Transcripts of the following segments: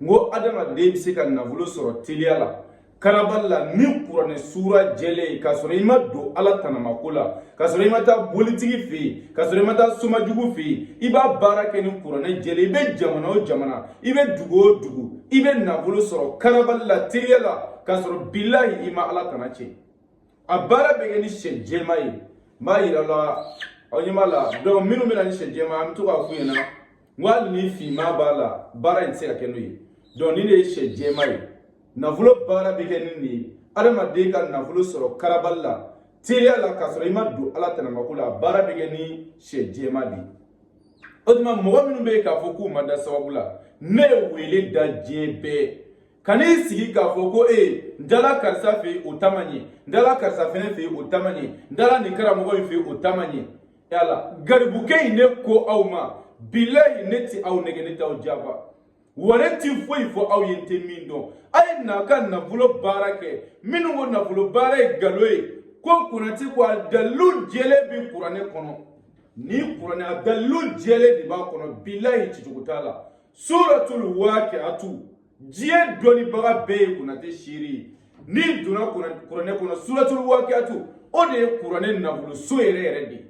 n ko adamaden bɛ se ka nafolo sɔrɔ teliya la karabali la ni kuranɛ suura jɛlen ye k'a sɔrɔ i ma don ala tanamako la k'a sɔrɔ i ma taa bolitigi fɛ yen k'a sɔrɔ i ma taa somajugu fɛ yen i b'a baara kɛ ni kuranɛ jɛlen i bɛ jamana o jamana i bɛ dugu o dugu i bɛ nafolo sɔrɔ karabali la teliya la k'a sɔrɔ bilahi i ma ala tana tiɲɛ a baara bɛ kɛ ni sɛ jɛma ye n b'a yira aw la aw ɲɛ b'a la donc minnu bɛ na ni sɛ jɛma an bɛ to k'a f'u ɲɛna n ko hali ni finma b'a la baara in tɛ se ka kɛ n'o ye donc nin de ye sɛ jɛma ye nafolo baara bɛ kɛ ni nin ye adamaden ka nafolo sɔrɔ karabali la teliya la k'a sɔrɔ i ma don ala tanamako la a baara bɛ kɛ ni sɛ jɛma de ye o tuma mɔgɔ minnu bɛ yen k'a fɔ k'u ma da sababu la ne ye wele da diɲɛ bɛɛ kan'i sigi k'a fɔ ko ee n taara karisa fɛ yen o ta ma ɲɛ n taara karisa fɛnɛ fɛ yen o ta ma ɲɛ n taara nin karamɔgɔ in fɛ yen o ta ma ɲɛ yala garibukɛ in ne ko aw ma bilayi ne tɛ aw nɛgɛn ne t'aw janfa wa ne ti foyi fɔ aw ye n tɛ min dɔn a ye na ka nafolo baara kɛ minnu ko nafolo baara ye ngalon ye ko konate ko a dalilu jɛlen bi kuranɛ kɔnɔ ni kuranɛ a dalilu jɛlen de b'a kɔnɔ bilayi cicogo t'a la suratul waqi'atu diɲɛ dɔnnibaga bɛɛ ye konate seere ye n'i donna kuranɛ kɔnɔ suratul waqi'atu o de ye kuranɛ nafoloso yɛrɛ yɛrɛ de ye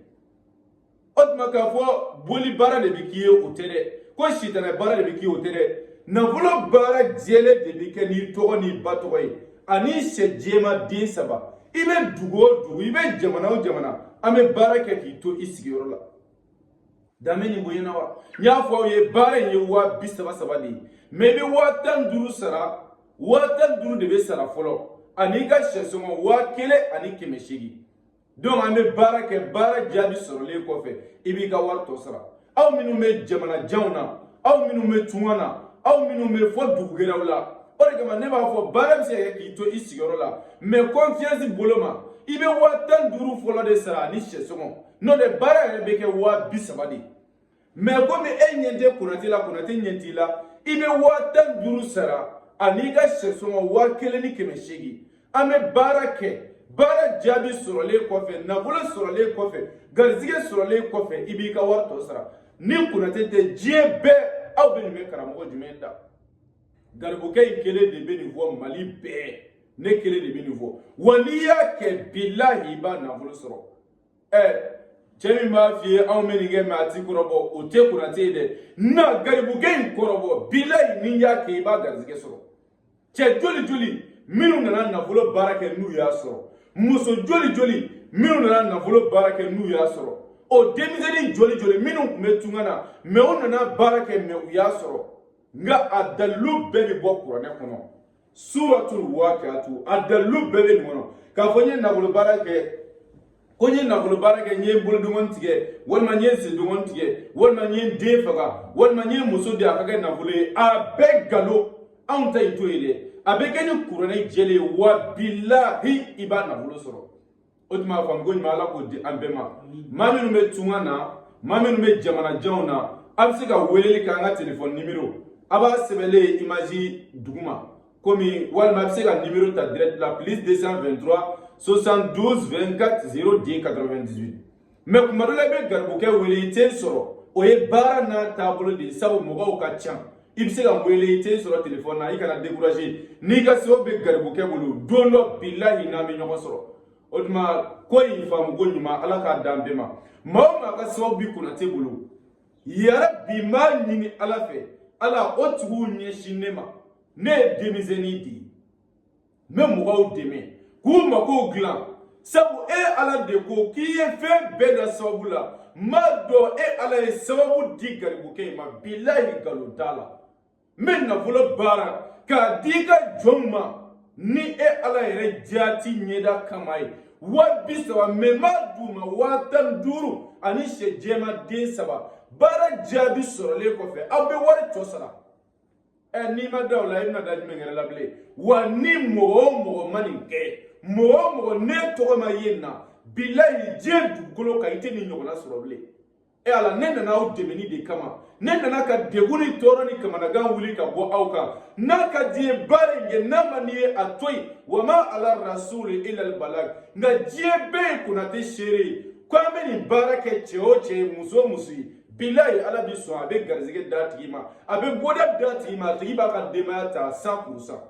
o tuma k'a fɔ boli baara de bɛ k'i ye o tɛ dɛ ko sitanɛ baara de bɛ k'i ye o tɛ dɛ nafolo baara jɛlen de bɛ kɛ n'i tɔgɔ n'i ba tɔgɔ ye ani sɛ jɛma den saba i bɛ dugu o dugu i bɛ jamana o jamana an bɛ baara kɛ k'i to i sigiyɔrɔ la danbe ni bonya na wa n y'a fɔ aw ye baara in ye waa bi saba saba de ye mɛ i bɛ waa tan ni duuru sara waa tan ni duuru de bɛ sara fɔlɔ ani i ka sɛsɔngɔ waa kelen ani kɛmɛ seegin donc an bɛ baara kɛ baara jaabi sɔrɔlen kɔfɛ i b'i ka wari tɔ sara aw minnu bɛ jamana janw na aw minnu bɛ tunga na aw minnu bɛ fo dugu gɛrɛw la o de kama ne b'a fɔ baara bɛ se ka kɛ k'i to i sigiyɔrɔ la mɛ confiance bolo ma i bɛ waa tan ni duuru fɔlɔ de sara ani sɛsɔngɔ n'o tɛ baara yɛrɛ bɛ kɛ waa bi saba de mɛ komi e ɲɛ tɛ konate la konate ɲɛ t'i la i bɛ waa tan ni duuru sara an'i ka sɛsɔngɔ waa kelen ni kɛmɛ seegin an bɛ baara kɛ baara jaabi sɔrɔlen kɔfɛ nafolo sɔrɔlen kɔfɛ garizigɛ sɔrɔlen kɔfɛ i b'i ka wari tɔ sara ni konate tɛ diɲɛ bɛɛ aw bɛ nin bɛ karamɔgɔ jumɛn da garibukɛ in kelen de bɛ nin fɔ mali bɛɛ ne kelen de bɛ nin fɔ wa n'i y'a kɛ bilahi i b'a nafolo sɔrɔ ɛ cɛ min b'a f'i ye anw bɛ nin kɛ mɛ a ti kɔrɔbɔ o tɛ konate ye dɛ na garibukɛ in kɔrɔbɔ bilayi n'i y'a kɛ i b'a garizigɛ sɔrɔ cɛ joli joli minnu nana nafolo baara kɛ n'u y'a sɔrɔ muso joli joli minnu nana nafolo baara kɛ n'u y'a sɔrɔ o denmisɛnnin joli joli minnu tun bɛ tunga na mɛ u nana baara kɛ mɛ u y'a sɔrɔ nka a dalilu bɛɛ bɛ bɔ kuranɛ kɔnɔ suratul waqiatu a dalilu bɛɛ bɛ nin kɔnɔ k'a fɔ n ye nafolo baara kɛ ko n ye nafolo baara kɛ n ye bolodengɔn tigɛ walima n ye sendengɔn tigɛ walima n ye n den faga walima n ye muso di a ka kɛ nafolo ye a bɛɛ nkalon anw ta in t'o ye dɛ a bɛ kɛ ni kuranɛ jɛlen ye wa bilahi i b'a nafolo sɔrɔ o tuma a faamuko ɲuman ala k'o di an bɛɛ ma maa minnu bɛ tunga na maa minnu bɛ jamanajanw na a bɛ se ka weleli kɛ an ka telefɔni nimero a b'a sɛbɛnlen ye imazi duguma komi walima a bɛ se ka nimero ta direct la plus 223 72 24 0 10 98 mɛ kuma dɔ la i bɛ garibukɛ wele i tɛ n sɔrɔ o ye baara n'a taabolo de ye sabu mɔgɔw ka ca i bɛ se ka wele i tɛ n sɔrɔ telefɔni na i kana dekuraze n'i ka sababu bɛ garibukɛ bolo don dɔ bilahi an bɛ ɲɔgɔn sɔrɔ o tuma ko in faamuko ɲuman ala k'a d'an bɛɛ ma maa o maa ka sababu bi konate bolo yarabi n b'a ɲini ala fɛ ala o tigiw ɲɛsin ne ma ne ye denmisɛnnin de ye n bɛ mɔgɔw dɛmɛ k'u makow dilan sabu e ala de ko k'i ye fɛn bɛɛ da sababu la n b'a dɔn e ala ye sababu di garibukɛ in ma bilayi nkalon t'a la n bɛ nafolo baara k'a di i ka jɔnw ma ni e ala yɛrɛ jaati ɲɛda kama ye waa bi saba mɛ n b'a d'u ma waa tan ni duuru ani sɛ jɛman den saba baara jaabi sɔrɔlen kɔfɛ aw bɛ wari tɔ sara ɛ eh, n'i ma da o la i bɛna da jumɛn yɛrɛ la bilen wa ni mɔgɔ o mɔgɔ ma nin kɛ mɔgɔ o mɔgɔ n'e tɔgɔ ma ye nin na bilayi diɲɛ dugukolo kan i tɛ nin ɲɔgɔnna sɔrɔ bilen e ala ne nana aw dɛmɛni de kama ne nana ka degun ni tɔɔrɔ ni kamanagan wuli ka bɔ aw kan n'a ka d'i ye baara in kɛ n'a man d'i ye a to yen wa ma ala rasuli ilal balag nka diɲɛ bɛɛ ye konate seere ye ko an bɛ nin baara kɛ cɛ o cɛ ye muso o muso ye bilayi ala bi sɔn a bɛ garizigɛ d'a tigi ma a bɛ bɔda d'a tigi ma a tigi b'a ka denbaya ta san puru san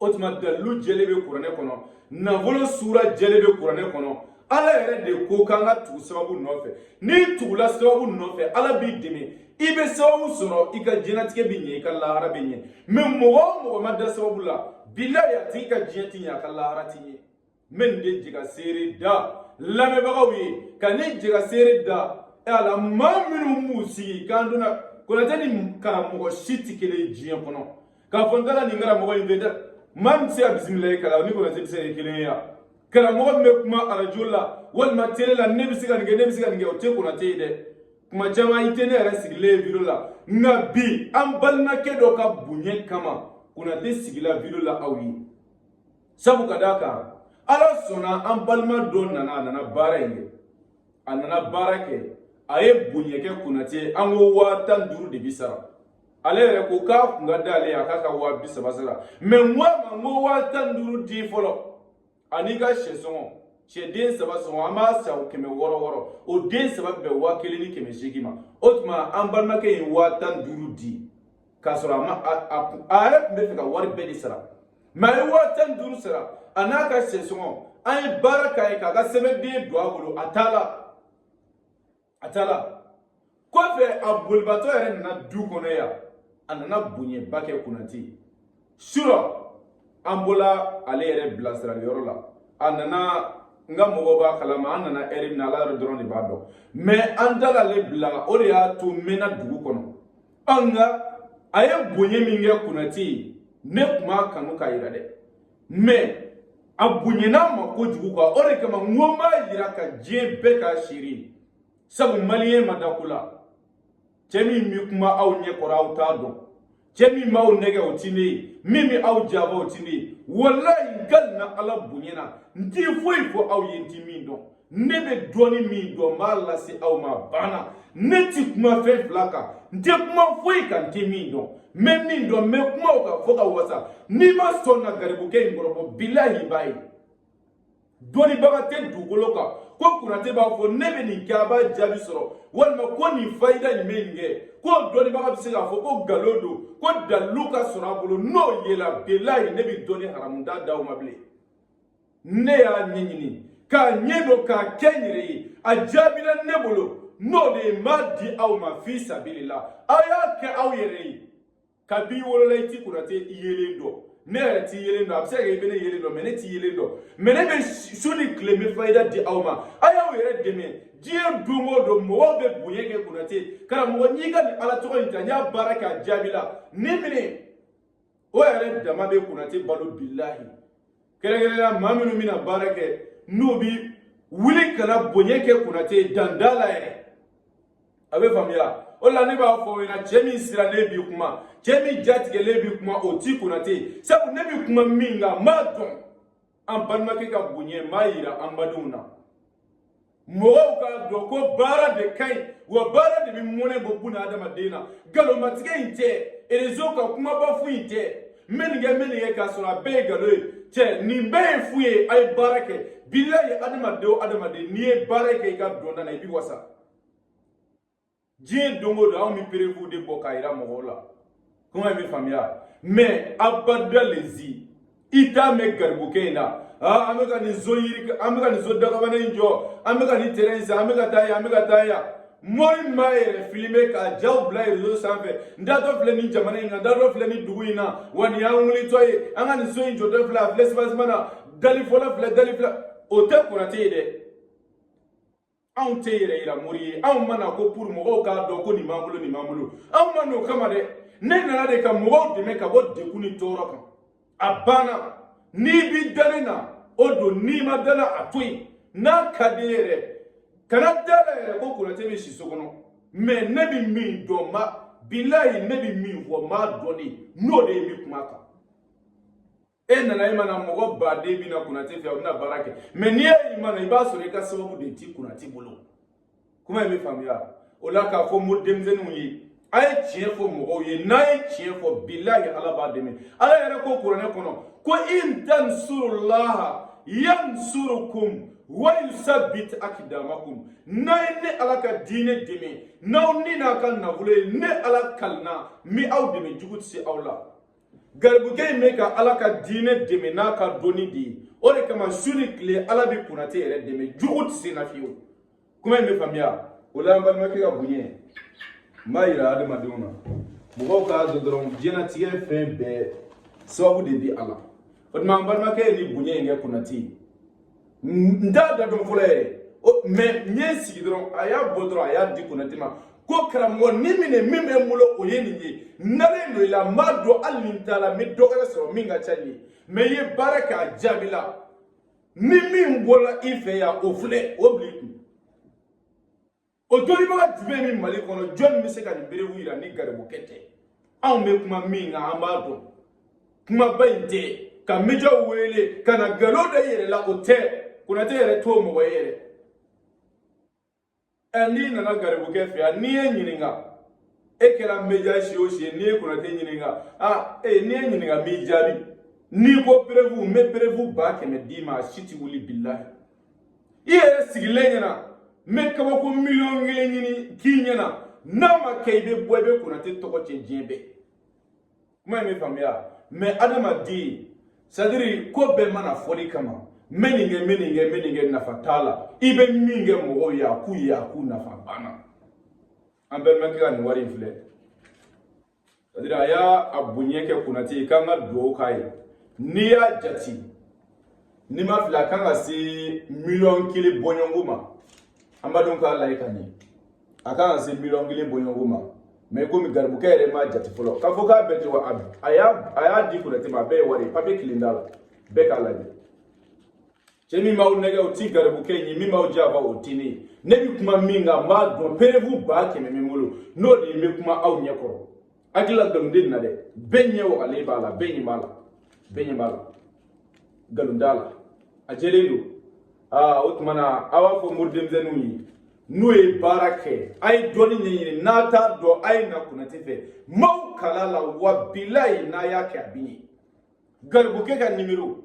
o tuma dalilu jɛlen bɛ kuranɛ kɔnɔ nafolo suura jɛlen bɛ kuranɛ kɔnɔ ala yɛrɛ de ko k'an ka tugu sababu nɔfɛ n'i tugula sababu nɔfɛ ala b'i dɛmɛ i bɛ sababu sɔrɔ i ka diɲɛnatigɛ bɛ ɲɛ i ka lahara bɛ ɲɛ mɛ mɔgɔ o mɔgɔ ma da sababu la bilayi a tigi ka diɲɛ ti ɲɛ a ka lahara ti ɲɛ n bɛ nin de jika seere da lamɛnbagaw ye ka ne jika seere da e ala maa minnu b'u sigi k'an donna konate ni karamɔgɔ si tɛ kelen ye diɲɛ kɔnɔ k'a fɔ n taara nin karamɔgɔ in fɛ dɛ maa min tɛ se ka bisimilayi kalan ni konate tɛ se ka kɛ kelen ye yan karamɔgɔ min bɛ kuma arajo la walima tele la ne bɛ se ka nin kɛ ne bɛ se ka nin kɛ o tɛ konate ye dɛ kuma caman i tɛ ne yɛrɛ sigilen ye video la nka bi an balimakɛ dɔ ka bonya kama konate sigila video la aw ye sabu ka d'a kan ala sɔnna an balima dɔ nana a nana baara in kɛ a nana baara kɛ a ye bonya kɛ konate an ko waa tan duuru de bi sara ale yɛrɛ ko k'a kun ka d'ale ye a k'a ka waa bi saba sara mɛ n ko a ma n ko waa tan duuru di fɔlɔ an'i ka sɛ sɔngɔ sɛ den saba sɔngɔ an b'a san kɛmɛ wɔɔrɔ wɔɔrɔ o den saba bɛn waa kelen ni kɛmɛ seegin ma o tuma an balimakɛ ye waa tan duuru di k'a sɔrɔ a ma a yɛrɛ tun bɛ fɛ ka wari bɛɛ de sara mɛ a ye waa tan ni duuru sara a n'a ka sɛsɔngɔ an ye baara k'a ye k'a ka sɛbɛnden don a bolo a taala a taala kɔfɛ a bolibatɔ yɛrɛ nana du kɔnɔ yan a nana bonyaba kɛ konate surɔ an bɔla ale yɛrɛ bilasirali yɔrɔ la a nana n ka mɔgɔw b'a kalama an nana ɛri min na ala yɛrɛ dɔrɔn de b'a dɔn mɛ an taal'ale bila o de y'a to n mɛnna dugu kɔnɔ ɔ nka a ye bonya min kɛ konate ye ne tun b'a kanu k'a jira dɛ mɛ a bonyana n ma kojugu kuwa o de kama n ko n b'a jira ka diɲɛ bɛɛ k'a seere sabu maliyɛn ma da ko la cɛ min bɛ kuma aw ɲɛ kɔrɔ aw t'a dɔn cɛ min b'aw nɛgɛn o ti ne ye min bɛ aw janfa o ti ne ye walayi n kalina ala bonya na n ti foyi fɔ aw ye n ti min dɔn ne bɛ dɔɔni min dɔn n b'a lase aw ma banna ne ti kuma fɛn fila kan n tɛ kuma foyi kan n tɛ min dɔn n bɛ min dɔn n bɛ kuma o kan fo ka wasa n'i ma sɔn ka garibukɛ in kɔrɔbɔ bilahi i b'a ye dɔnnibaga tɛ dugukolo kan ko konate b'a fɔ ne bɛ nin kɛ a b'a jaabi sɔrɔ walima ko nin fayida nin bɛ nin kɛ ko dɔnnibaga bɛ se k'a fɔ ko nkalon don k'o dalilu ka sɔrɔ a bolo n'o yela bilahi ne bɛ dɔnni haramu n t'a d'aw ma bilen ne y'a ɲɛɲini k'a ɲɛdɔn k'a kɛ n yɛrɛ ye a jaabila ne bolo n'o de ye n b'a di aw ma fi sabilila aw y'a kɛ aw yɛrɛ ye kab'i wolola i ti konate i yelen dɔn ne yɛrɛ t'i yelen dɔn a bɛ se ka kɛ i bɛ ne yelen dɔn mɛ ne t'i yelen dɔn mɛ ne bɛ su ni tile n bɛ fayida di aw ma a y'aw yɛrɛ dɛmɛ diɲɛ don o don mɔgɔw bɛ bonya kɛ konate karamɔgɔ n y'i ka nin ala tɔgɔ in ta n y'a baara kɛ a jaabila nin minɛ o yɛrɛ dama bɛ konate balo bilahi kɛrɛnkɛrɛnnenya maa minnu bɛ na baara kɛ n'u bi wuli ka na bonya kɛ konate ye dan t'a la yɛrɛ a bɛ faamuya o la ne b'a fɔ aw ɲɛna cɛ min siralen bi kuma cɛ min jatigɛlen bi kuma o ti konate ye sabu ne bi kuma min kan n b'a dɔn an balimakɛ ka bonya n b'a yira an badenw na mɔgɔw k'a dɔn ko baara de ka ɲi wa baara de bɛ mɔnɛ bɔ buna adamaden na nkalonmatigɛ in tɛ erezo ka kumaba fu in tɛ n bɛ nin kɛ n bɛ nin kɛ k'a sɔrɔ a bɛɛ ye nkalon ye cɛ nin bɛɛ ye fu ye a ye baara kɛ bilayi adamaden o adamaden n'i ye baara kɛ i ka dɔnta la i bɛ wasa diɲɛ don o don anw bɛ perewu de bɔ k'a yira mɔgɔw la kuma in bɛ faamuya mɛ abada lezi i t'a mɛn garibukɛ in na an bɛ ka nin so yiri an bɛ ka nin so dakabana in jɔ an bɛ ka nin terɛn in san an bɛ ka taa yan an bɛ ka taa yan mori m'a yɛrɛ filime k'a jaw bila rezo sanfɛ n taatɔ filɛ nin jamana in na n taatɔ filɛ nin dugu in na wa nin y'an wulitɔ ye an ka nin so in jɔtɔ filɛ a filɛ sibasima na dali fɔlɔ filɛ dali filɛ o tɛ konate ye dɛ anw tɛ yɛrɛ yira mori ye anw ma na ko pour mɔgɔw k'a dɔn ko nin b'an bolo nin b'an bolo anw ma n'o kama dɛ ne nana de ka mɔgɔw dɛmɛ ka bɔ degun ni tɔɔrɔ kan a banna n'i bi da ne na o don n'i ma da la a to yen n'a ka d'i ye yɛrɛ kana da la yɛrɛ ko konate bɛ si so kɔnɔ mɛ ne bɛ min dɔn ma bilayi ne bɛ min fɔ n b'a dɔn de n'o de ye n bɛ kuma a kan e nana e ma na mɔgɔ baden bɛ na konate fɛ a bɛna baara kɛ mɛ n'i ye i ma na i b'a sɔrɔ i ka sababu de ti konate bolo kuma in bɛ faamuya o la k'a fɔ mo denmisɛnninw ye a ye tiɲɛ fɔ mɔgɔw ye n'a ye tiɲɛ fɔ bilahi ala b'a dɛmɛ ala yɛrɛ ko kuranɛ kɔnɔ ko in tansurulaha yansurukum wayusabit akidamakum n'a ye ne ala ka diinɛ dɛmɛ n'aw ni n'a ka nafolo ye ne ala kalina n bɛ aw dɛmɛ jugu tɛ se aw la garibukɛ in bɛ ka ala ka diinɛ dɛmɛ n'a ka dɔnni de ye o de kama su ni tile ala bɛ konate yɛrɛ dɛmɛ jugu tɛ se na fiyewu kuma in bɛ faamuya o la an balimakɛ ka bonya n b'a yira adamadenw na mɔgɔw k'a dɔn dɔrɔn diɲɛnatigɛ fɛn bɛɛ sababu de bɛ a la o tuma an balimakɛ ye nin bonya in kɛ konate ye n t'a da dɔn fɔlɔ yɛrɛ mɛ n ye n sigi dɔrɔn a y'a bɔ dɔrɔn a y'a di konate ma ko karamɔgɔ ni minɛ min bɛ n bolo o ye nin ye n dalen don i la n b'a dɔn hali ni n taara n bɛ dɔ wɛrɛ sɔrɔ min ka ca nin ye mɛ i ye baara kɛ a jaabila ni min bɔra i fɛ yan o filɛ o bila i kun o dɔnnibaga jumɛn bɛ mali kɔnɔ jɔnni bɛ se ka nin perewu yira ni garibukɛ tɛ anw bɛ kuma min kan an b'a dɔn kumaba in tɛ ka mejaw wele ka na nkalon da i yɛrɛ la o tɛ konate yɛrɛ t'o mɔgɔ ye yɛrɛ ɛ n'i nana garibukɛ fɛ yan n'i ye n ɲininka e kɛra meja si o si ye n'i ye konate ɲininka a e n'i ye n ɲininka n b'i jaabi n'i ko perewu n bɛ perewu ba kɛmɛ d'i ma a si tɛ wuli bilahi i yɛrɛ sigilen ɲɛna n bɛ kabako miliyɔn kelen ɲini k'i ɲɛna n'a ma kɛ i bɛ bɔ i bɛ konate tɔgɔ cɛn diɲɛ bɛɛ kuma in bɛ faamuya mɛ adama di sadiri ko bɛɛ ma na fɔli kama n bɛ nin kɛ n bɛ nin kɛ n bɛ nin kɛ nafa t'a la i bɛ min kɛ mɔgɔw ye a k'u ye a k'u nafa banna an bɛɛ mɛ kɛ ka nin wari in filɛ sadiri a y'a a bonya kɛ konate ye k'an ka dugawu k'a ye n'i y'a jate n'i ma fili a kan ka se miliyɔn kelen bɔɲɔgɔnko ma an b'a dɔn k'a lajɛ ka ɲɛ a kan ka se miliyɔn kelen bɔɲɔgɔnko ma mɛ komi garibukɛ yɛrɛ m'a jate fɔlɔ k'a fɔ k'a bɛ ten wa a y'a di konate ma a bɛɛ ye wari ye papiye kelen t'a la bɛɛ k'a lajɛ Cɛ min b'aw nɛgɛ o tɛ garibukɛ in ye min b'aw janfa o tɛ ne ye ne bɛ kuma min kan n b'a dɔn perewu ba kɛmɛ bɛ n bolo n'o de ye n bɛ kuma aw ɲɛ kɔrɔ hakilila nkalon tɛ n na dɛ bɛɛ ɲɛ wagalen b'a la bɛɛ ɲɛ b'a la bɛɛ ɲɛ b'a la nkalon t'a la a jɛlen don aa o tuma na aw b'a fɔ mori denmisɛnninw ye n'u ye baara kɛ a ye dɔnni ɲɛɲini n'a t'a dɔn a ye na konate fɛ maaw kala la wa bilayi n'a y'a kɛ a bɛ ɲɛ garibukɛ ka nimero